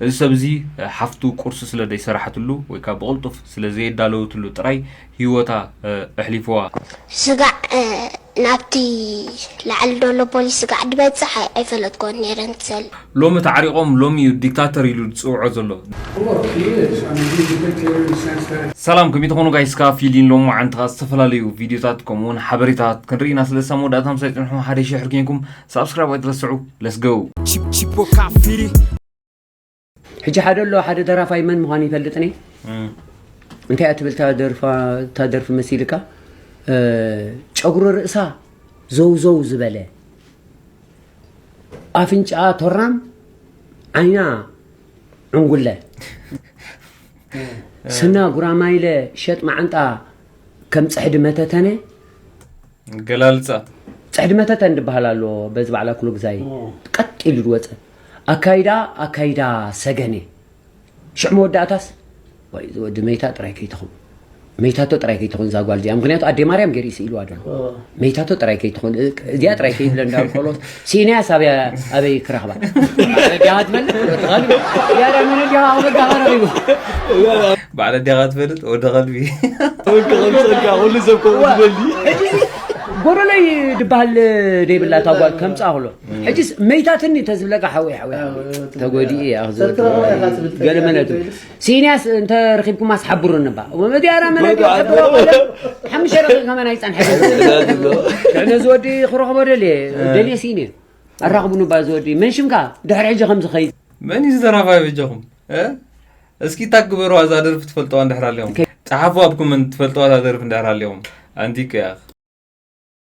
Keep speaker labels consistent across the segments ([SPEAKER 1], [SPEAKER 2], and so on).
[SPEAKER 1] እዚ ሰብ እዚ ሓፍቱ ቁርሲ ስለ ደይሰራሕትሉ ወይ ከኣ ብቕልጡፍ ስለ ዘየዳለወትሉ ጥራይ ሂወታ እሕሊፍዋ።
[SPEAKER 2] ስጋዕ ናብቲ ላዕሊ ዶሎ ፖሊስ ስጋዕ ድበጽሕ ኣይፈለጥክዎን ነይረ ንሰል። ሎሚ ተዓሪቆም
[SPEAKER 1] ሎሚ እዩ ዲክታተር ኢሉ ዝጽውዖ ዘሎ። ሰላም ከመይ ትኾኑ ጋይስ ከኣ ፊሊን ሎምዓንቲ ከኣ ዝተፈላለዩ ቪድዮታት ከምኡ ውን ሓበሬታታት ክንርኢ ኢና ስለዚ ሳብ መወዳእታ ምሳይ ጽንሑ ሓደ ሺሕር ኬንኩም ሳብስክራይብ ኣይትረስዑ ለስ ጎው ሕጂ
[SPEAKER 3] ሓደ ኣሎ ሓደ ደራፋይ መን ምዃኑ ይፈልጥኒ እንታይ እያ ትብል እታ ደርፊ መሲልካ ጨጉሪ ርእሳ ዘውዘው ዝበለ ኣፍንጫኣ ቶራም ዓይና ዕንጉለ ስና ጉራማይለ ሸጥ መዓንጣ ከም ጽሕዲ መተተነ
[SPEAKER 1] ገላልጻ ጽሕዲ
[SPEAKER 3] መተተን ድበሃል ኣሎ በዚ ባዕላ ክሎግዛይ ቀጥ ኢሉ ዝወፀ ኣካይዳ ኣካይዳ ሰገን እየ ሽዕ መወዳእታስ ወይ እዚ ወዲ መይታ ጥራይ ከይትኹን መይታቶ ጥራይ ከይትኹን እዛ ጓል እዚኣ ምክንያቱ ኣዴ ማርያም ገይሩ ይስኢልዋ ደሎ መይታቶ ጥራይ ከይትኹን እዚኣ ጥራይ ከይብለ እንዳበልኮሎት ሲኢናያስ ኣብያ ኣበይ ክረኽባ ባዕለዲኻ ትፈልጥ ወዲ ኸልቢ ያረ መነዲኻ ክበዳ ቀረቢቡ
[SPEAKER 1] ባዕለዲኻ ትፈልጥ ወዲ ኸልቢ ወዲ ኸልቢ
[SPEAKER 4] ፀጋ ኩሉ ሰብ ከምኡ ዝበሊ
[SPEAKER 3] ጎደለይ ድበሃል ደይብላ እታ ጓል ከምፃ ክሎ ሕጂስ መይታትኒ ተዝብለካ ሓወይ ሓወይ ተጎዲኡ እያ ክዝወድ ገለ መለት ሲንያስ እንተ ረኺብኩማስ ሓብሩኒ እባ ወመዲያራ መናድዮ ሕድሮ ቀለም ሓሙሽተ ረኺ ከመን ኣይጸንሐ ልዕነ ዝወዲ ክረኽቦ ደልየ ደልየ ሲኒ ኣራኽቡኒ እባ ዝወዲ መን ሽምካ ድሕሪ ሕጂ ከምዚ ኸይ መን እዩ ዝደራፋይ
[SPEAKER 1] በጃኹም እስኪ እታ ግበሩ ኣዛ ደርፊ ትፈልጠዋ እንድሕር ኣለኹም ጸሓፉ ኣብ ኮመንት ትፈልጠዋ እዛ ደርፊ እንድሕር ኣለኹም ኣንቲከ ያኽ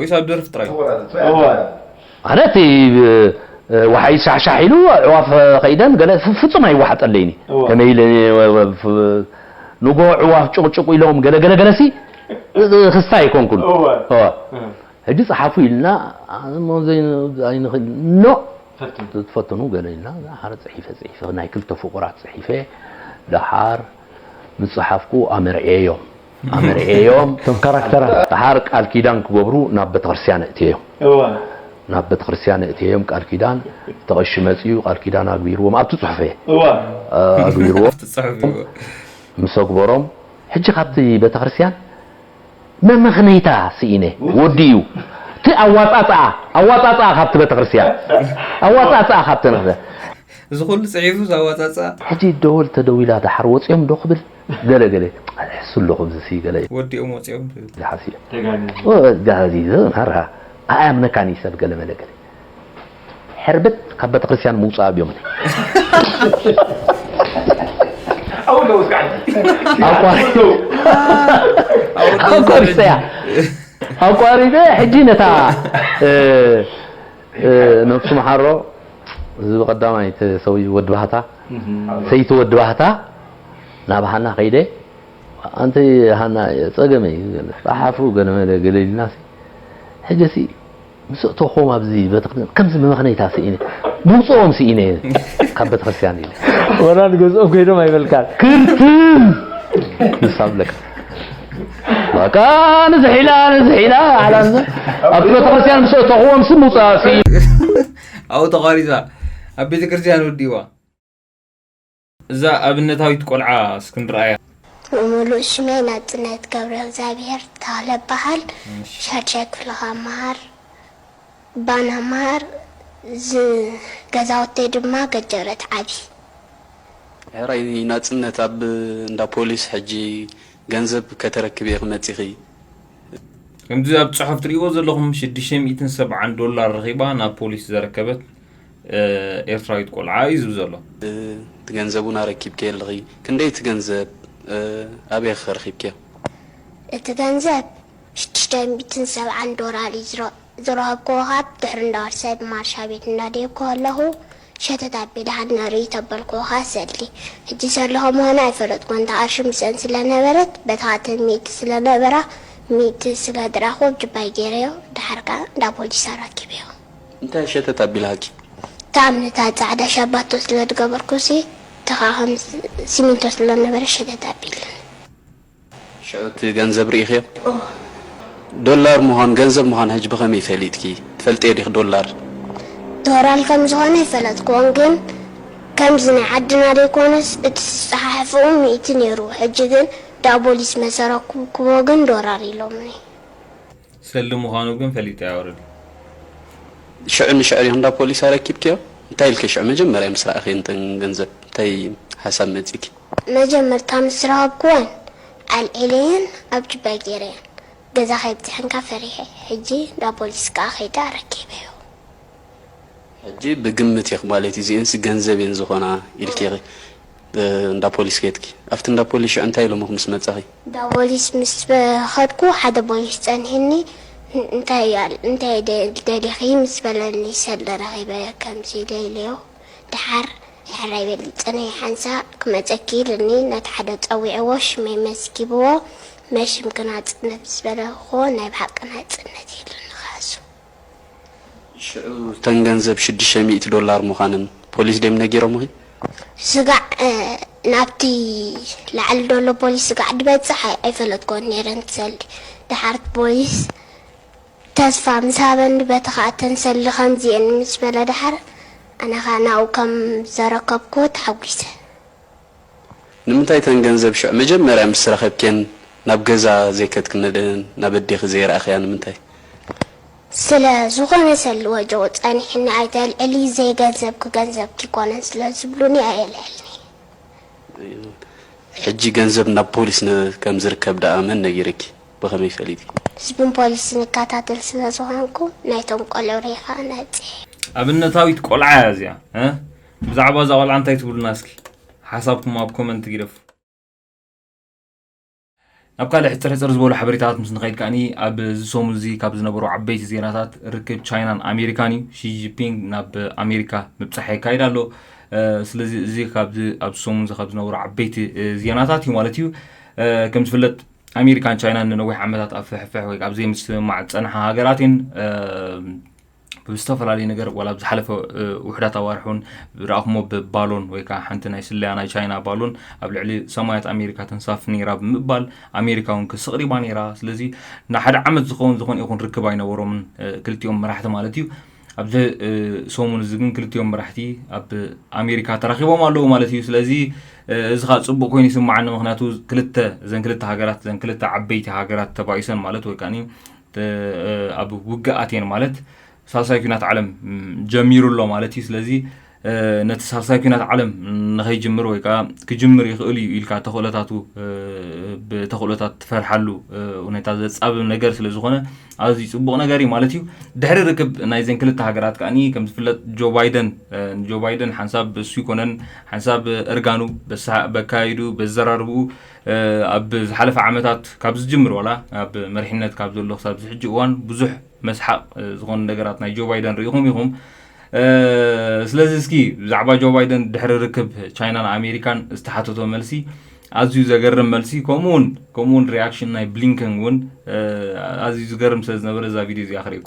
[SPEAKER 1] ወይስ
[SPEAKER 5] ኣብ ደርፊ ጥራይ? ኣነ እቲ ወሓይዝ ሻሕሻሕ ኢሉ ኣዕዋፍ ከይደን ገለ ፍጹም ኣይወሓጠለይን እዩ ከመይ ኢለ ንግሆ ኣዕዋፍ ጭቕጭቑ ኢሎም ገለ ገለ ገለሲ ክስታይ ኣይኮንኩን ሕጂ ጸሓፉ ኢልና ኖ ትፈትኑ ገለ ኢልና ሓረ ጽሒፈ ጽሒፈ ናይ ክልተ ፍቑራት ጽሒፈ ደሓር ምስ ጸሓፍኩ ኣመርዕየዮም ኣመርዕየዮም እቶም ካራክተራት። ደሓር ቃል ኪዳን ክገብሩ ናብ ቤተክርስትያን ኣእትየዮም። እወ። ናብ ቤተክርስትያን ኣእትየዮም ቃል ኪዳን፣ እቲ ቐሺ መጺኡ ቃል ኪዳን ኣግቢርዎም፣ ኣብቲ ጽሑፍ እየ። እወ። ኣግቢርዎም፣ ኣብቲ ጽሑፍ እየ። ምስ ኣግበሮም፣ ሕጂ ካብቲ ቤተክርስትያን መመኽነይታ ስኢነ፣ ወዲ እዩ። እቲ ኣዋጻጽኣ፣ ኣዋጻጽኣ ካብቲ ቤተክርስትያን፣ ኣዋጻጽኣ ካብቲ ቤተክርስትያን። እዚ ኩሉ
[SPEAKER 1] ጽሒፉ እዚ ኣዋጻጽኣ። ሕጂ ደወል
[SPEAKER 5] ተደዊላ ደሓር ወጺኦም'ዶ ክብል ገለ ገለ ሕሱ ኣለኹ ኣብዚሲ ገለ ወዲኦም ወጺኦም ትብል።
[SPEAKER 1] ጋሃዚ እዩ
[SPEAKER 5] ተጋህዚ ጋሃዚ እዩ ሃርሃ ኣያምነካን እዩ ሰብ ገለ መለ ገለ ሕርብት ካብ በተክርስትያን ምውጻእ
[SPEAKER 4] ኣቋሪፀያ
[SPEAKER 5] ኣቋሪፀ ሕጂ ነታ ነብሱ መሓሮ እዚ ብቀዳማይ ሰውይ ወዲ ባህታ ሰይቲ ወዲ ባህታ ናብ ሃና ከይደ ኣንቲ ሃና ፀገመ እዩ ጣሓፉ ገለመለ ገለ ኢልና ሕጂ ሲ ምስ እተኹም ኣብዚ ቤተክርስትያን ከምዚ መመኽነይታ ስኢነ ምውፅኦም ስኢነ ካብ ቤተክርስትያን ኢለ ወላ ንገዝኦም
[SPEAKER 4] ከይዶም ኣይበልካን ክርትም
[SPEAKER 5] ንሳብለካ በቃ ንዝሒላ ንዝሒላ ዓላ ኣብ ቤተክርስትያን ምስ እተኹዎም ሲ ምውፅኣ ስኢነ
[SPEAKER 1] ኣብኡ ተቋሪፃ ኣብ ቤተክርስትያን ወዲዋ እዛ ኣብነታዊት ቆልዓ እስኪ ንርኣያ። ሙሉእ
[SPEAKER 2] ሽመይ ናጽነት ገብረእግዚኣብሄር ተኽለ እበሃል። ሻድሻይ ክፍሊ ካብ እመሃር ባና እመሃር። ገዛውተይ ድማ ገጀረት ዓቢ።
[SPEAKER 6] ሕራይ ናጽነት ኣብ እንዳ ፖሊስ ሕጂ ገንዘብ ከተረክቢ ኢኺ መጺኺ።
[SPEAKER 1] ከምዚ ኣብ ጽሑፍ ትርእይዎ ዘለኹም ሽዱሽተ ሚእትን ሰብዓን ዶላር ረኺባ ናብ ፖሊስ ዘረከበት፣ ኤርትራዊት ቆልዓ እዩ ዝብ ዘሎ። እቲ ገንዘብ
[SPEAKER 6] እውን ኣረኪብክዮ ኣለኺ ክንደይ እቲ ገንዘብ ኣበይ ኸ ረኺብክዮ። እቲ
[SPEAKER 2] ገንዘብ ሽዱሽተ ሚእትን ሰብዓን ዶላር እዩ ዝረኸብክዎ ካብ ድሕሪ እንዳወርሰ ብማርሻ ቤት እንዳደየብኩ ከለኹ ሸተት ኣቢለ ሃድና ርእይ ተበልክዎ ኸኣ ሰሊ ሕጂ ሰሊ ከምዃና ኣይፈለጥክዎን ተኣርሺ ምስኤን ስለ ነበረት በቲ ኻእተን ሚእቲ ስለ ነበራ ሚእቲ ስለ ድራኽኩ ኣብ ጅባይ ገይረዮ ደሓር ከኣ እንዳ ፖሊስ ኣረኪበዮ። እንታይ
[SPEAKER 6] ሸተት ኣቢልሃኪ? ጣዕሚ ነታ
[SPEAKER 2] ጻዕዳ ሻባቶ ስለ ዝገበርኩሲ እቲ ከኣ ከም ሲሚንቶ ስለ ዝነበረ ሸተት ኣቢሉኒ።
[SPEAKER 6] ሽዑ እቲ ገንዘብ ርኢኽዮ? እወ። ዶላር ምዃኑ ገንዘብ ምዃኑ ሕጂ ብኸመይ ፈሊጥኪ? ትፈልጥዮ ዲኺ ዶላር? ዶራል
[SPEAKER 2] ከም ዝኾነ ኣይፈለጥክዎን ግን ከምዚ ናይ ዓድና ዘይኮነስ እቲ ዝጸሓሕፍኡ ሚእቲ ኔሩ ሕጂ ግን ዳቦሊስ መሰረኩብክዎ ግን ዶራር ኢሎምኒ። ሰልዲ
[SPEAKER 1] ምዃኑ ግን ፈሊጠ እያ ኦረዲ። ሽዑ ንሽዑ
[SPEAKER 6] እንዳ ፖሊስ ኣረኪብክዮ እንታይ ኢልኪ ሽዑ መጀመርያ ምስ ረኣኺ እንተን ገንዘብ እንታይ ሓሳብ መጺኪ። መጀመርታ
[SPEAKER 2] ምስ ረኸብክወን ኣልዒለየን ኣብ ጁባይ ጌረየን ገዛ ከይብጽሐንካ ፈሪሐ ሕጂ እንዳ ፖሊስ ከኣ ከይደ ኣረኪበዮ።
[SPEAKER 6] ሕጂ ብግምት ኢኺ ማለት እዩ እዚኤንሲ ገንዘብ እየን ዝኾና ኢልኪ ኢኺ። እንዳ ፖሊስ ከድኪ? ኣብቲ እንዳ ፖሊስ ሽዑ እንታይ ኢሎሙኺ ምስ መጻኺ? እንዳ ፖሊስ ምስ
[SPEAKER 2] ኸድኩ ሓደ ፖሊስ ጸኒሑኒ እንታይ ደሊኺ ምስ በለኒ ሰለ ረኺበዮ ከምዚ ደልዮ ደሓር ሕራይ በሊ ጽንሒ ሓንሳእ ክመጸኪ ኢሉኒ ነቲ ሓደ ጸዊዕዎ ሽመይ መዝጊብዎ መሽም ክናጽነት ምስ በለክዎ ናይ ብሓቂ ናጽነት ኢሉኒ ካሱ ሽዑ
[SPEAKER 6] እተን ገንዘብ ሽዱሽተ ሚእቲ ዶላር ምዃነን ፖሊስ ድዮም ነጊሮምኺ? ስጋዕ
[SPEAKER 2] ናብቲ ላዕሊ ዘሎ ፖሊስ ስጋዕ ድበጽሕ ኣይፈለጥኩዎን ነይረ። ንሰልዲ ደሓር እቲ ፖሊስ ተስፋ ምስ ሃበኒ በቲ ኸኣ እተን ሰልዲ ከምዚ እየን ምስ በለ ደሓር ኣነ ኸኣ ናብኡ ከም ዘረከብኩዎ ተሓጒሰ።
[SPEAKER 6] ንምንታይ እተን ገንዘብ ሽዑ መጀመርያ ምስ ረከብክየን ናብ ገዛ ዘይከትክነደን ናብ ኣዴኪ ዘይረኣክያ ንምንታይ?
[SPEAKER 2] ስለ ዝኮነ ሰሉ ወጆ ጸኒሕኒ ኣይተልዕሊ ዘይ ገንዘብኪ ገንዘብኪ ኣይኮነን ስለ ዝብሉኒ ኣየልዕልንየ።
[SPEAKER 6] ሕጂ ገንዘብ ናብ ፖሊስ ከም ዝርከብ ደኣ መን ነጊርኪ ብከመይ ፈሊጢ? ህዝብን ፖሊስን
[SPEAKER 2] እከታተል ስለ ዝኮንኩ ናይቶም ቆልዑ ሪኢካ ነጺሐ። ኣብነታዊት
[SPEAKER 1] ቆልዓ እያ እዚኣ። ብዛዕባ እዛ ቆልዓ እንታይ ትብሉና እስኪ ሓሳብኩም ኣብ ኮመንት ግደፉ። ናብ ካልእ ሕፅር ሕፅር ዝበሉ ሓበሬታታት ምስ ንኸይድ ከዓኒ ኣብዚ ሰሙን እዚ ካብ ዝነበሩ ዓበይቲ ዜናታት ርክብ ቻይናን ኣሜሪካን እዩ ሺጂፒንግ ናብ ኣሜሪካ ምብፃሕ የካይድ ኣሎ ስለዚ እዚ ካብዚ ኣብዚ ሰሙን እዚ ካብ ዝነበሩ ዓበይቲ ዜናታት እዩ ማለት እዩ ከም ዝፍለጥ ኣሜሪካን ቻይናን ንነዊሕ ዓመታት ኣብ ፍሕፍሕ ወይ ኣብ ዘይምስምማዕ ዝፀንሓ ሃገራት እየን ብዝተፈላለዩ ነገር ዋላ ዝሓለፈ ውሕዳት ኣዋርሕ እውን ዝረኣኹሞ ብባሎን ወይ ከዓ ሓንቲ ናይ ስለያ ናይ ቻይና ባሎን ኣብ ልዕሊ ሰማያት ኣሜሪካ ተንሳፍ ነይራ ብምባል ኣሜሪካ እውን ክስቕሪባ ነይራ ስለዚ ንሓደ ዓመት ዝኸውን ዝኾነ ይኹን ርክብ ኣይነበሮምን ክልቲኦም መራሕቲ ማለት እዩ ኣብዚ ሰሙን እዚ ግን ክልቲኦም መራሕቲ ኣብ ኣሜሪካ ተራኺቦም ኣለዉ ማለት እዩ ስለዚ እዚ ከዓ ፅቡቅ ኮይኑ ይስማዓኒ ምክንያቱ ክልተ እዘን ክልተ ሃገራት እዘን ክልተ ዓበይቲ ሃገራት ተባኢሰን ማለት ወይ ከዓ ኣብ ውግእ ኣትየን ማለት ሳልሳይ ኩናት ዓለም ጀሚሩ ኣሎ ማለት እዩ ስለዚ ነቲ ሳልሳይ ኩናት ዓለም ንኸይጅምር ወይ ከዓ ክጅምር ይኽእል እዩ ኢልካ ተኽእሎታቱ ብተኽእሎታት ትፈርሓሉ ሁኔታ ዘፃብብ ነገር ስለ ዝኾነ ኣዝዩ ፅቡቕ ነገር እዩ ማለት እዩ ድሕሪ ርክብ ናይዘን ክልተ ሃገራት ከዓኒ ከም ዝፍለጥ ጆ ባይደን ንጆ ባይደን ሓንሳብ እሱ ይኮነን ሓንሳብ እርጋኑ በካይዱ በዘራርብኡ ኣብ ዝሓለፈ ዓመታት ካብ ዝጅምር ዋላ ኣብ መሪሕነት ካብ ዘሎ ክሳብ እዚ ሕጂ እዋን ብዙሕ መስሓቕ ዝኾኑ ነገራት ናይ ጆ ባይደን ርኢኹም ኢኹም። ስለዚ እስኪ ብዛዕባ ጆ ባይደን ድሕሪ ርክብ ቻይናን ኣሜሪካን ዝተሓተቶ መልሲ ኣዝዩ ዘገርም መልሲ ከምኡውን ከምኡውን ሪኣክሽን ናይ ብሊንከን እውን ኣዝዩ ዝገርም ስለ ዝነበረ እዛ ቪድዮ እዚኣ ክሪእኩ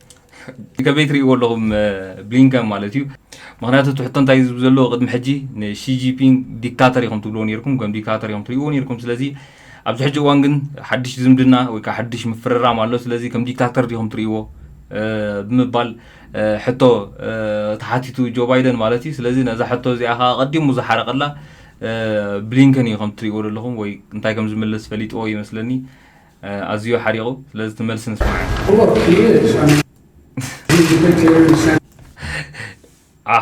[SPEAKER 7] ከመይ
[SPEAKER 1] ትርእይዎ ኣለኹም ብሊንከን ማለት እዩ ምክንያቱ እቲ ሕቶ እንታይ ዝብ ዘለዎ ቅድሚ ሕጂ ንሺጂፒንግ ዲክታተር ኢኹም ትብልዎ ነርኩም ከም ዲክታተር ኢኹም ትርእይዎ ነርኩም ስለዚ ኣብዚ ሕጂ እዋን ግን ሓድሽ ዝምድና ወይ ከዓ ሓድሽ ምፍርራም ኣሎ ስለዚ ከም ዲክታተር ዲኹም ትርእይዎ ብምባል ሕቶ ተሓቲቱ ጆ ባይደን ማለት እዩ ስለዚ ነዛ ሕቶ እዚኣ ከዓ ቀዲሙ ዝሓረቀላ ብሊንከን እዩ ከም ትርእይዎ ዘለኹም ወይ እንታይ ከም ዝምልስ ፈሊጥዎ ይመስለኒ ኣዝዩ ሓሪቑ ስለዚ እቲ መልሲ ንስማዕ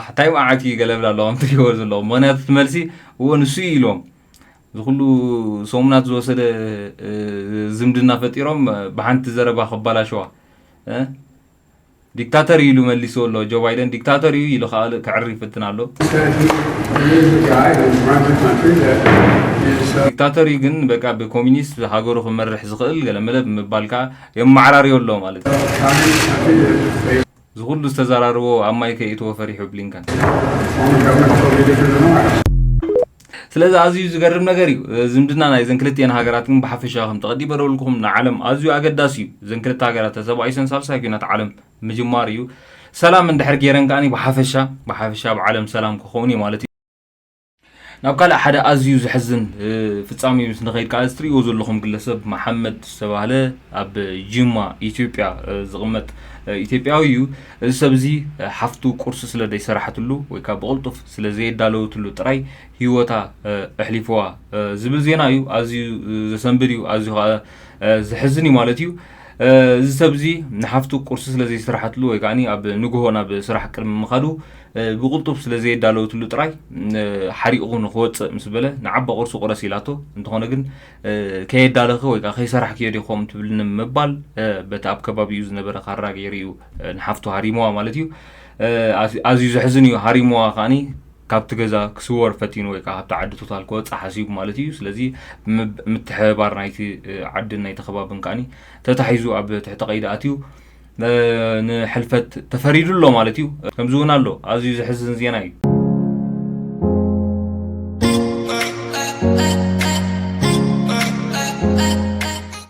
[SPEAKER 8] እንታይ
[SPEAKER 1] መዓት እዩ ገለብል ኣሎ ከም ትሪእዎ ዘለኹም ምክንያቱ እቲ መልሲ እዎ ንሱ እዩ ኢሎም እዚ ኩሉ ሰሙናት ዝወሰደ ዝምድና ፈጢሮም ብሓንቲ ዘረባ ከባላሸዋ ዲክታተር እዩ ኢሉ መሊስዎ ኣሎ ጆ ባይደን ዲክታተር እዩ ኢሉ ክኣ ከዕሪ ይፍትን ኣሎ። ዲክታተር እዩ ግን በቃ ብኮሚኒስት ሃገሩ ክመርሕ ዝኽእል ገለመለ ብምባል ክኣ የማዓራርዮ ኣሎ ማለት እዩ። እዚ ኩሉ ዝተዛራርቦ ኣብ ማይ ከይእትዎ ፈሪሑ ብሊንከን። ስለዚ ኣዝዩ ዝገርም ነገር እዩ። ዝምድና ናይዘን ክልቲኤን ሃገራት ግን ብሓፈሻ ከምቲ ቀዲም በለውልኩም ንዓለም ኣዝዩ ኣገዳሲ እዩ። እዘን ክልተ ሃገራት ተሰባኢሰን ሳልሳይ ኩናት ዓለም ምጅማር እዩ። ሰላም እንድሕር ገይረን ከኣ ብሓፈሻ ብሓፈሻ ኣብ ዓለም ሰላም ክኸውን እዩ ማለት እዩ። ናብ ካልእ ሓደ ኣዝዩ ዘሕዝን ፍጻሜ ምስ ንኸይድ ከዓ እዚ ትሪእዎ ዘለኹም ግለሰብ መሓመድ ዝተባህለ ኣብ ጅማ ኢትዮጵያ ዝቕመጥ ኢትዮጵያዊ እዩ እዚ ሰብ እዚ ሓፍቱ ቁርሲ ስለ ዘይሰራሕትሉ ወይ ከዓ ብቕልጡፍ ስለ ዘየዳለወትሉ ጥራይ ህይወታ ኣሕሊፍዋ ዝብል ዜና እዩ። ኣዝዩ ዘሰንብድ እዩ፣ ኣዝዩ ከኣ ዘሕዝን እዩ ማለት እዩ። እዚ ሰብዚ ንሓፍቱ ቁርሲ ስለ ዘይሰራሓትሉ ወይ ከኣ ኣብ ንግሆ ናብ ስራሕ ቅድሚ ምኻዱ ብቕልጡፍ ስለ ዘየዳለወትሉ ጥራይ ሓሪቑ ንክወጽእ ምስ በለ ንዓባ ቁርሲ ቁረሲ ኢላቶ እንተኾነ ግን ከየዳለኺ ወይ ከኣ ከይሰራሕክዮ ዲኺ ከምኡ ትብልኒ ምባል በቲ ኣብ ከባቢኡ ዝነበረ ካራ ገይሩ እዩ ንሓፍቱ ሃሪምዋ ማለት እዩ። ኣዝዩ ዘሕዝን እዩ ሃሪምዋ ከኣ ካብቲ ገዛ ክስወር ፈቲኑ ወይ ከዓ ካብቲ ዓዲ ቶታል ክወፅእ ሓሲቡ ማለት እዩ ስለዚ ምትሕብባር ናይቲ ዓድን ናይቲ ከባብን ከኣ ተታሒዙ ኣብ ትሕቲ ቀይዲ ኣትዩ ንሕልፈት ተፈሪዱ ኣሎ ማለት እዩ ከምዚ እውን ኣሎ ኣዝዩ ዘሕዝን ዜና እዩ